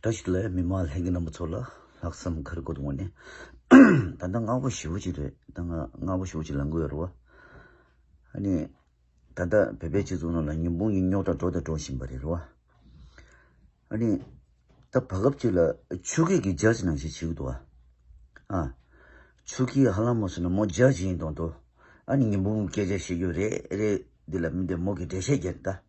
བཀྲ་ཤིས་ལགས་མི་མང་ལྷན་རྒྱས་རྣམ་པ་ཚོ་ལ་ལྷག་བསམ་ཁ་རི་གོ་དོང་ནས་ད་ལྟ་ང་བོ་ཞི་བོ་ཅིག་རེད་ད་ང་ང་བོ་ཞི་བོ་ཅིག་ལང་གི་ཡོད་རེད་བ། ཧ་ནི་ད་ལྟ་བོད་པའི་སྤྱི་ཚོགས་ནང་ལ་ཉིན་དཔུང་གཉིས་རྙོག་དྲ་འགྲོ་དང་འགྲོ་བཞིན་པ་རེད་རེད་བ། ཨ་ནི་ད་བར་སྐབས་ཅིག་ལ་ཆུ་སྐེད་ཀྱི་རྒྱ་ཆེ་ནང་ཞིག་བྱེད་གི་འདུག་བ། ཆུ་སྐེད་ཧ་ལམ་མོ་སོང་ན་མོ་རྒྱ་ཆེ་ཡིན་དང་འདུག་ཨ་ནི་ཉིན་དཔུང་སྐད་ཆ་བཤད་རྒྱུ་རེད་རེད་འདི་ལ་མི་འདི་མོ་གི་འགྲེལ་བཤད་རྒྱག་གི་ད།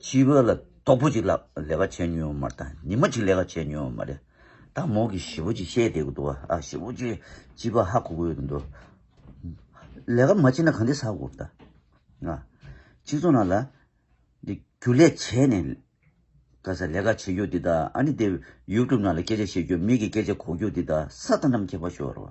སྤྱི་བོ་ལ་སྟོབས་པོ་ཅིག་ལ་ལས་ཀ་བྱས་མྱོང་མ་རེད་ཉི་མ་ཅིག་ལས་ཀ་བྱས་མྱོང་མ་རེད་ད་མོ་གི་བཞི་བོ་ཅིག་བཤད་བསྡད་གི་འདུག་བ་ཨ་བཞི་བོ་ཅིག་སྤྱི་བོ་ཧ་གོ་གོ་ཡོད་འདུག་ལས་ཀ་མ་བྱས་ན་གང་འདི་ཟ་དགོ་ད་ང་སྤྱི་ཚོགས་ནང་ལ་འདི་རྒྱུ་ལས་བྱས་ནས་ལས་ཀ་བྱེད་རྒྱུ་འདི་ད་ཨ་ནི་འདི་ཡུ་ཀྲུབ་ནང་ལ་སྐད་ཆ་བཤད་རྒྱུ་མིག་གི་སྐད་ཆ་གོ་རྒྱུ་འདི་ད་ས་ད་ནམ་ཁྱད་པ་ཤོར་བ།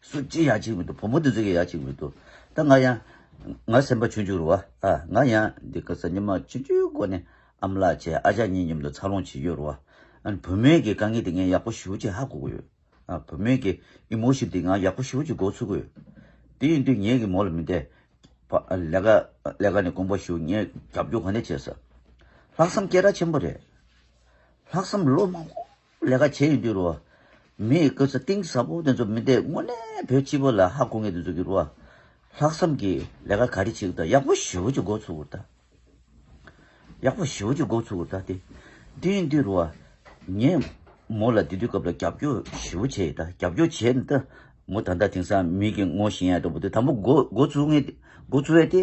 སུ་ཅི་ཡང་གཅིག་མི་འདུག་བུ་མོ་འདི་ཟིག་གི་ཡང་གཅིག་མི་འདུག་ད་ང་ཡང། ང་སེམས་པ་ཆུང་ཆུང་རུ་བ། ང་ཡང་འདི་སྐད་ས་ཉི་མ་ཆུང་ཆུང་སྒོ་ནས་ཨ་མ་ལགས་བྱས་ཨ་ཅག་གཉིས་མཉམ་དུ་འཚར་ལོངས་བྱེད་ཀྱི་རུ་བ། བུ་མོས་ཀྱི་དཀའ་ངལ་དེ་ངས་ཡག་པོ་ཞི་བོ་ཅིག་ཧ་གོ་གི་ཡོད། བུ་མོས་ཀྱི Emotion དེ་ང་ཡག་པོ་ཞི་བོ་ཅིག་འགོག་ཚུགས་གི་ཡོད། དེ་ཡིན་དུས་ངས་ཀྱི་མོ་ལ་མི་འཐད། ལས་ཀ་ལས་ཀ་ནས་དགོངས་པ་ཞུ་ངས་རྒྱབ་སྐྱོར་ག་ནས་བྱེད། ལྷག་བསམ་སྐད་གྲགས་ཆེན་པོ་རེད། ལྷག་བསམ་བློ་མང་པོ། ལས་ཀ་བྱེད་ཡོང་དུས་རུ། མིའི་སྐུ་ཚེ་གཏིང་ཟབ་པོ་དེ་ཚོ་མི་འདེད་དངོས་གནས་བོད་སྤྱི་བོ་ལ་ཧ་གོ་ངེས་དེ་ཚོ་གི་རུ། ལྷག་བསམ་གྱི་ལས་ཀ་ག་རེ་བྱེད་དུ་ད་ཡག་པོ་ཞུ་གི་འགོ་ཚུགས་གུ་རུ་ད། ཡག་པོ་ཞུ་གི་འགོ་ཚུགས་གུ་རུ་ད་དེ། དེ་ཡིན་དུས་རུ། ངས་མོ་ལ་དེ་དུས་སྐབས་ལ་རྒྱབ་སྐྱོར་ཞུ་གུ་བྱེད་ཡོད་ད་རྒྱབ་སྐྱོར་བྱེད་ཡོད་ད། མོ་ད་ལྟ་དེང་སང་མིག་གི་སྔོ་ཞིང་ཡ་འདྲ་པོ་དེ་དང་པོ་འགོ་ཚུགས་ངེས་འགོ་ཚུགས་ཡོད་དེ།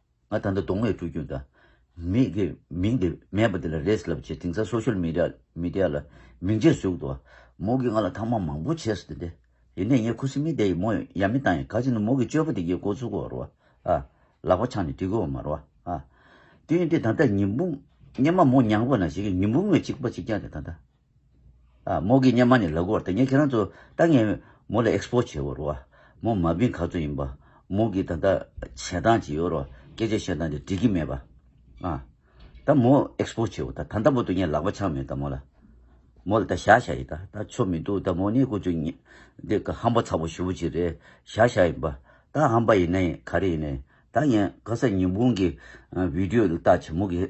ང་ད་ལྟ་གདོང་བའི་སྤྲུལ་སྐུ་འདྲ། མིག་གིས་མིང་དེ་སྨྲས་པ་དེ་ལ་རེས་ལབ་ཅེས་དེང་སང Social Media ལ་མིང་ཅེས་ཟུག་འདུག། མོ་གིས་ང་ལ་ཐང་མ་མང་པོ་བྱས་སོ་དེ། ཡིན་ནའི་ངས་ཁུ་སིམ་མེར་བསྡད་ཡོད་མོ་ཡ་མི་བཏང་ཡིན་ག་ཅིག་ནི་མོ་གི་སྤྱོད་པ་དེ་གའི་མགོ་ཚུགས་བར་བ་ཨ། ལག་པ་འཆང་ནས་བྲིས་དགོས་བ་མར་བ་ཨ། དེ་ཡིན་དུས་ད་ལྟ་ཉི་འབུམ། སྙེ་མ་མོ་མྱངས་པ་ན་ཞིག་གིས་ཉི་འབུམ་བའི་ཅིག་པ་ཅིག་བརྒྱགས་ནས་ད་ལྟ། མོ་གིས་སྙན་མ་ནས་ལག་འགོར་ཏེ་ངས་ཁྱེད་རང་ཚོ་ད་ངས་མོ་ལ Expo བྱེད་འོར་བ། མོ་མ་སྦིན་ག་ཚོད་ཡིན་པ། མོ་གིས་ད་ལྟ་བྱེད་སྟངས་ཇི་ཡོར་བ་སྐད་ཆ་བཤད་སྟངས་དེ་འགྲིག་གི་མེད་པ། ད་མོ Expo བྱེད་འོ་ད་ད་ལྟ་མོ་ཏུ་ངས་ལག་པ་འཆང་མེད་ད་མོ་ལ། མོ་ལ་ད་བཞག་བཞག་ཡིན་ད་ད་ཆོ་མི་འདུག་ད་མོ་ནི་ཀུ་ཅོ་འདི་ག་ཧམ་པ་ཚ་པོ་ཞུ་བོ་ཅིག་རེད་བཞག་བཞག་ཡིན་པ། ད་ཧམ་པ་ཡིན་ནའི་ག་རེ་ཡིན་ནའི་ད་ངས་ག་ས་ཉིན་བུང་གི Video དེ་བལྟ་བྱེད་མོ་གིས་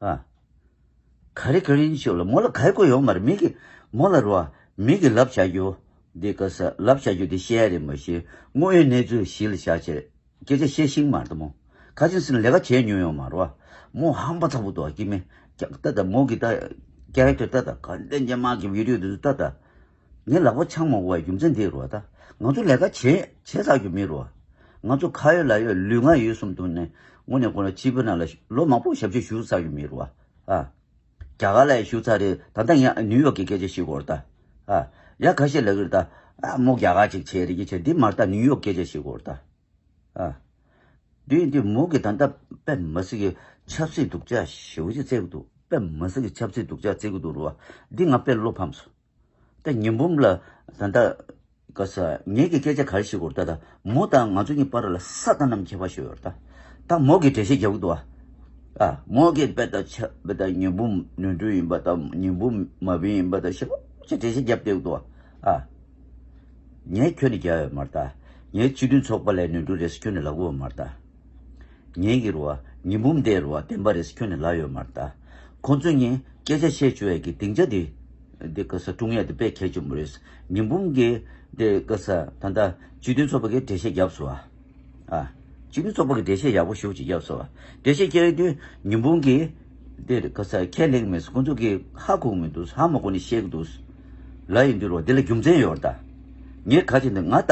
ཨ། ག་རེ་ག་རེ་ཡིན་ཞུ་ལ་མོ་ལ་ག་ཡེ་གོ་ཡོང་མ་རེད་མི་གི། མོ་ལ་རོ། མི་གི་ལབ་བྱ་རྒྱུ། འདི་ག་ས་ལབ་བྱ་རྒྱུ་དེ་ཤེས་ཡ་རེད་མོ་ཞེས་དངོས་ཡོད་གནས་ཚུལ་གཞི་ལ་བཞག་བྱས། སྐད་ཆ་བཤད་ཤིང་མ་རེད་མོ། ཁ་ཆེམས་སེམས་ལས་ཀ་བྱས་ཉོན་ཡོང་མ་རོ། མོ་ཧམ་པ་ཚ་བོ་འདུག་ཨ་སྐྱིད་མེད། ཀྱག་ཏ་ད་མོ་གི་ད། Character ད་ད་ག་རེ་ད་འཇམ་དམག་གི་བིད་རིའུ་དེ་ཚོ་ད་ད། ངའི་ལག་པ་འཆང་མ་འོང་བའི་རྒྱུ་མཚན་འདི་རོ་ད། ང་ཚོ་ལས་ཀ་བྱེད་བྱེད་ཟག་རྒྱུ་མི་རུང། ང་ཚོ་ཁ་ཡོད་ལག་ཡོད་ལུས་ངག་ཡོད་གསུམ་འདུག་ནས་སྔོན་ནས་ཁོ་རང་སྤྱི་བོད་ནང་ལ་ལོ་མང་པོ་ཞབས་ཕྱི་ཞུ་ཟག་རྒྱུ་མི་རུང། རྒྱ་གར་ལ་ཡང་ཞུ་ཚར་རེད་ད་ལྟ་ངས་ནིའུ་ཡོག་གི་སྐད་ཆ་ཞིག་གོར་ད། ཡ་ཁ་ཤས་ལ་གིར་ད། མོ་རྒྱ་གར་ཅིག་བྱེད་རེ་ཀྱི་བྱེད་འདི་མ་ལྟ་ནིའུ་ཡོག་སྐད་ཆ་ཞིག་གོར་ད། དེ་ཡིན་དུས་མོ་གིས་ད་ལྟ་པད་མ་སི་གི་ཆབ་སྲིད་སྡུག་ཅག་ཞིག་བརྩི་གི་འདུག་པད་མ་སི་གི་ཆབ་སྲིད་སྡུག་ཅག་བརྩི་གི་འདུག་རུང་བ་འདི་ང་དཔེར་བློ་ཕམ་སོང། ད་ཉིན་འབུམ་ལ་ད་ད་ག་ས་ངེད་ཀྱི་སྐད་ཆ་གར་ཞིག་གོ་ད་ད་མོ་ད་ང་ཚོ་གཉིས་པར་ལ་ས་ད་ནམ་ཁྱེད་པ་ཞོ་ཡོར་ད་ད་མོ་གི་འགྲེལ་བཤད་རྒྱབ་གི་འདུག་ཨ་མོ་གི་བེ་ད་ཆ་བེ་ད་ཉིན་འབུམ་ནོན་འཕྲུལ་ཡིན་པ་ད་ཉིན་འབུམ་མ་བིན་ཡིན་པ་ད་ཤེ་ལོང་ཅིག་འགྲེལ་བཤད་རྒྱབ་བསྡད་གི་འདུག་ཨ། ངས་ཁྱོད་ནི་རྒྱལ་བ་ཡོད་མར་ད་ངས་སྤྱི་མཐུན་ཚོགས་པ་ལས་ནོན་འཕྲུལ་རེད་ས་ཁྱོད་ནི་ལག་འགུ་བ་མར་ད། ངེད་ཀྱི་རུ་བ་ཉི་འབུམ་དེའི་རུ་བ་བདེན་པ་རེད་ཁྱོད་ནི་ལག་ཡོད་མར་བལྟ། ཁོ་ཚོས་ངས་སྐད་ཆ་བཤད་བཅུག་ཡས་ཀྱི་སྡིངས་ཆ་དེ་དེ་ག་ས་ཀྲུང་ཡས་དེ་དཔེ་ཁྱད་ཆེན་པོ་རེད་ས་ཉི་འབུམ་གྱི་དེ་ག་ས་ད་ལྟ་སྤྱི་མཐུན་ཚོགས་པ་གིས་འགྲེལ་བཤད་རྒྱབ་སོ་ཨ། སྤྱི་མཐུན་ཚོགས་པ་གིས་འགྲེལ་བཤད་ཡག་པོ་ཞུ་ཅིག་རྒྱབ་སོ་ཨ། འགྲེལ་བཤད་རྒྱབ་ཡས་དུས་ཉི་འབུམ་གྱི། འདིར་ཁ་ཚར་ཁས་ལེགས་མེད་ཁོང་ཚོ་གིས་ཧ་གོ་གི་མི་འདུག་ཧ་མ་གོ་ནི་ཤེས་ཀྱི་འདུག་ལ་ཡིན་དུས་རོགས་འདི་ལ་རྒྱུ་མཚན་ཡོད་རེད་ད། ངས་ག་ཅིག་འདི་ང་ལྟ་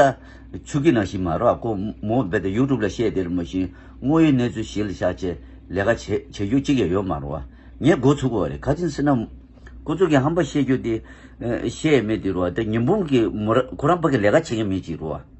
ཆུ་ཁི་ནང་བཞིན་མ་རོགས་ཀོ་མོ་རྦད་དེ YouTube ལ་བཤད་དེ་རི་མོ་བཞིན་དངོས་ཡོད་གནས་ཚུལ་ཞིག་ལ་བཞག་ཅེས་ལས་ཀ་བྱེད་རྒྱུ་གཅིག་ཡང་ཡོད་མ་རུང་བ་ངས་མགོ་ཚུགས་པ་རེད་ག་ཅིག་སེར་ནག་ཁོ་ཚོ་གིས་ཧམ་པ་བཤད་རྒྱུ་དེ་བཤད་ཡས་མེད་དུས་རོགས་འདི་ཉི་འབུམ་གིས་མོ་ར་ཁོ་རང་པ་གི་ལས་ཀ་བྱེད་མཁན་མེད་ཅིག་རུང་བ།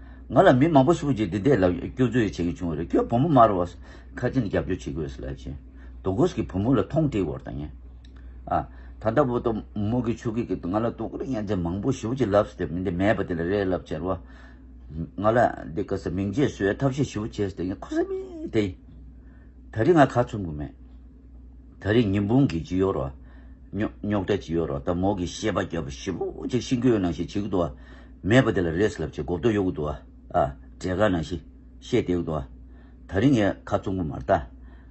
ང་ལ་མི་མང་པོ་ཞིག་གིས་འདི་ལྟའི་ལབ་སྐྱོར་རྩོད་ཡིག་བྱེད་ཀྱི་བྱུང་བ་རེད་ཁྱོད་བུ་མོ་མར་བ་ཁ་ཅན་རྒྱབ་སྐྱོར་བྱེད་དགོས་སུ་ལབ་ཅེས་དོ་གོས་ཀྱིས་བུ་མོ་ལ་ཐོང་དྲིས་བོར་དང་ཉེ་ཨ། ད་ལྟ་བོ་དོ་མོ་གིས་ཆུ་གིས་ང་ལ་དོ་གོས་བརྙན་ཆ་མང་པོ་ཞིག་བྱེད་ལབ་སྟེ་མི་འདི་མེད་པ་དེ་ལ་རས་ལབ་ཅེར་བ། ང་ལ་འདི་ག་ས་མིང་རྗེས་སུ་ཡོད་ཐབས་ཤེས་ཞིག་བྱེད་སྟེ་ཁོ་ས་མིང་དེ་ཡིན། ད་རིང་ང་ཁ་ཚུམ་གི་མེད། ད་རེས་ཉིན་དཔུང་གིས་ཇི་ཡོད་རོ། རྙོག་དྲ་ཇི་ཡོད་རོ་ད་མོག་གིས་ཤེས་པ་རྒྱབ་པ་ཞིབ་མོ་ཅིག་ཤིང་ཁྱོའི་ནང་ཞིག་བྱེད་གི་འདུག་ཨ། མེད་པ་དེ་ལ་རེས་ལབ་ཅིག་མགོ་བསྡོ་གཡོག་གི་འདུག་ཨ། བྲེ་ག་ནང་ཞིག་ཤེས་བསྡད་གི་འདུག་ཨ། ད་རེས་ངས་ཁ་བཙུམ་གི་མ་རྟ།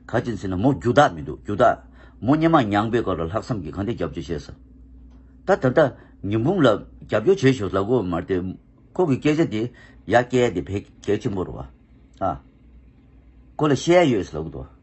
ག་ཅིག་འཚིག་ན་མོ་རྒྱུ་དག་མི་འདུག་རྒྱུ་དག། མོ་སྙེ་མ་མྱངས་པའི་སྐབས་ལ་ལྷག་བསམ་གྱིས་གང་འདི་རྒྱབ་སྐྱོར་བྱས་ས། ད་ད་ལྟ་ཉིན་དཔུང་ལ་རྒྱབ་སྐྱོར་བྱེད་ཞོར་ལ་གོ་མ་རྟའི་ཁོག་གི་སྐད་ཆ་དེ་ཡ་སྐད་དེ་བད་གད་ཆེན་པོ་རོ་ཨ། ཁོ་ལ་ཤེས་ཡ་ཡོད་ཟེར་ལབ་གི་འདུག་ཨ།